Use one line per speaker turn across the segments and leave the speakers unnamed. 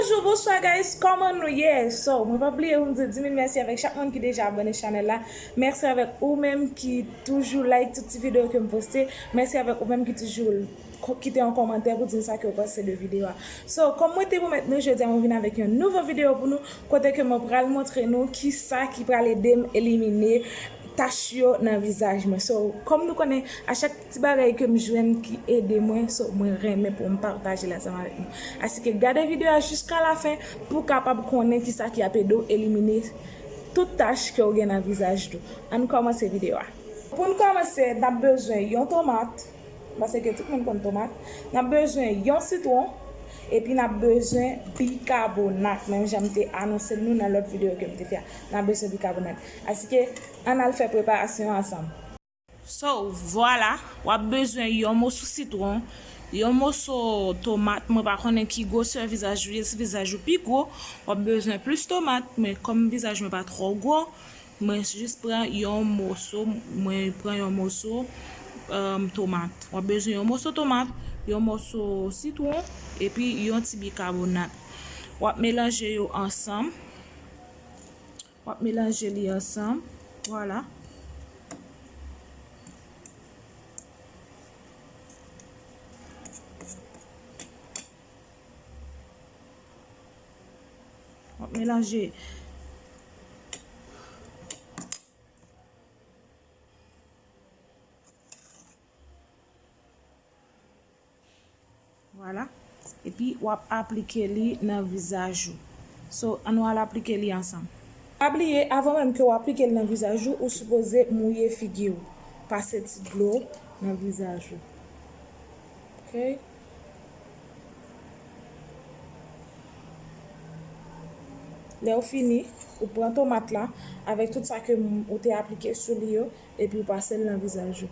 Bonjou bonswa guys kòman nou ye so mwen pa bliye poum di dimil mèsi avèk chak moun ki deja abòne chanèl la mèsi avèk ou menm ki toujou like tout ti video kem poste mèsi avèk ou menm ki toujou kite yon kòmantè pou dim sa kew panse de video a so kòm mwen te pwomèt nou jodi a mwen vin avèk yon nouvo video pou nou kote ke mwen pral montre nou kisa ki pral edem elimine tach yo nan vizaj mwen so kòm nou konnen a chak Ti bagay kem jwenn ki ede mwen so mwen renmen poum pataje l ansanm avèk nou. Asike gade video a jiska la fen pou kapab konnen kisa ki ap ede w elimine tout tach kew gen nan vizaj tou. Ann kòmanse video a. Poun kòmanse nap bezwen yon tomat, pase ke tout moun konn tomat, nap bezwen yon sitron epi nap bezwen bikabonat menm jan m te anonsel nou nan lòt video kem te fè a. Nap bezwen bikabonat. Asike ann al fè preparasyon an ansanm. So, vwala, w ap bezwen yon moso sitwon, yon moso tomat, mwen pa konnen ki gwosè vizaj ou ye, si vizaj ou pi gwo, w ap bezwen plis tomat, men kòm vizaj mwen pa twò gwo, mwen jis pran yon moso, mwen pran yon moso tomat. W ap bezwen yon moso tomat, yon moso sitwon, epi yon ti bikabonat. W ap melanje yo ansanm. Wap melanje li ansanm. Vwala. Wap melanje. Vwala. Epi wap aplike li nan vizaj ou. So an nou al aplike li ansanm. Pa bliye avan menm ke w aplike li nan vizaj ou, ou sipoze mouye figi ou. Pase ti dlo nan vizaj ou. Ok. Lè ou fini, ou pran tomat la avèk tout sa ke ou te aplike sou li yo epi ou pase l nan vizaj ou.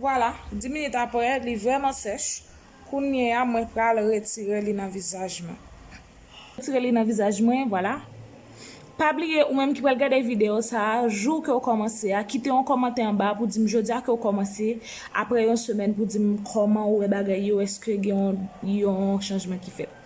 Vwala, 10 minit aprè, li vrèman sèch. Kounye a, mwen pral retire li nan vizaj mwen. Retire li nan vizaj mwen, vwala. Pa bliye ou menm ki pral gade video sa a jou ke ou kòmanse a kite yon kòmantè anba pou dim jodia ke ou kòmanse aprè yon semèn pou dim kòman ou wè bagay yo eske gen yon chanjman ki fèt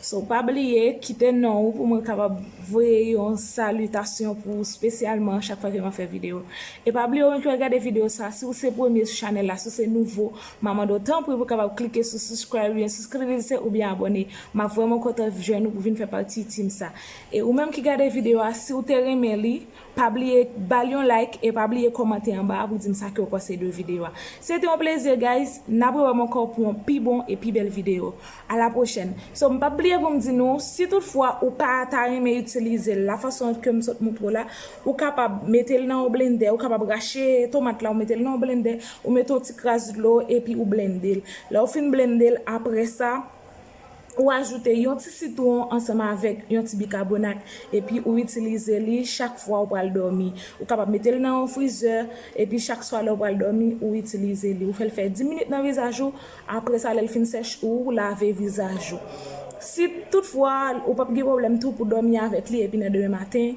so pa bliye kite non ou pou mwen kapab voye yon salitasyon pou ou spesyalman chak fwa ke map fè video e pa bliye ou menm ki pral gade video sa a si ou se premye sou chanèl la si ou se nouvo ma mande ou tanpri pou kapab klike sou subscribe oubyen souskrvise oubyen abòne map vrèman kontan jwenn ou pou vin fè pati team sa. E ou menm ki gade video a si ou te renmen li pa bliye bal yon like e pa bliye kòmante anba a pou dim sa kew panse de video a. Se te yon plezi guys, nap rewèm ankò pou yon pi bon e pi bèl video. A la pwochèn. So m pap bliye poum di nou si tout fwa ou pa ta renmen itilize l la fason kem sot moutre w la ou kapab mete l nan yon blendè ou kapab rache tomat la ou mete l nan yon blendè ou mete yon ti kras dlo epi ou blende l. Lèw fin blende l aprè sa. Ou ajoute yon ti sitwon ansanm avèk yon ti bikabonat epi ou itilize li chak fwa ou pral dòmi. Ou kapab mete l nan yon frizè epi chak swa lè ou pral dòmi ou itilize li. Ou fè l fè 10 minit nan vizaj ou, apre sa lè l fin sèch ou lave vizaj ou. Si tout fwa ou pap gen pwoblèm tou pou dòmi avèk li epi nan demen maten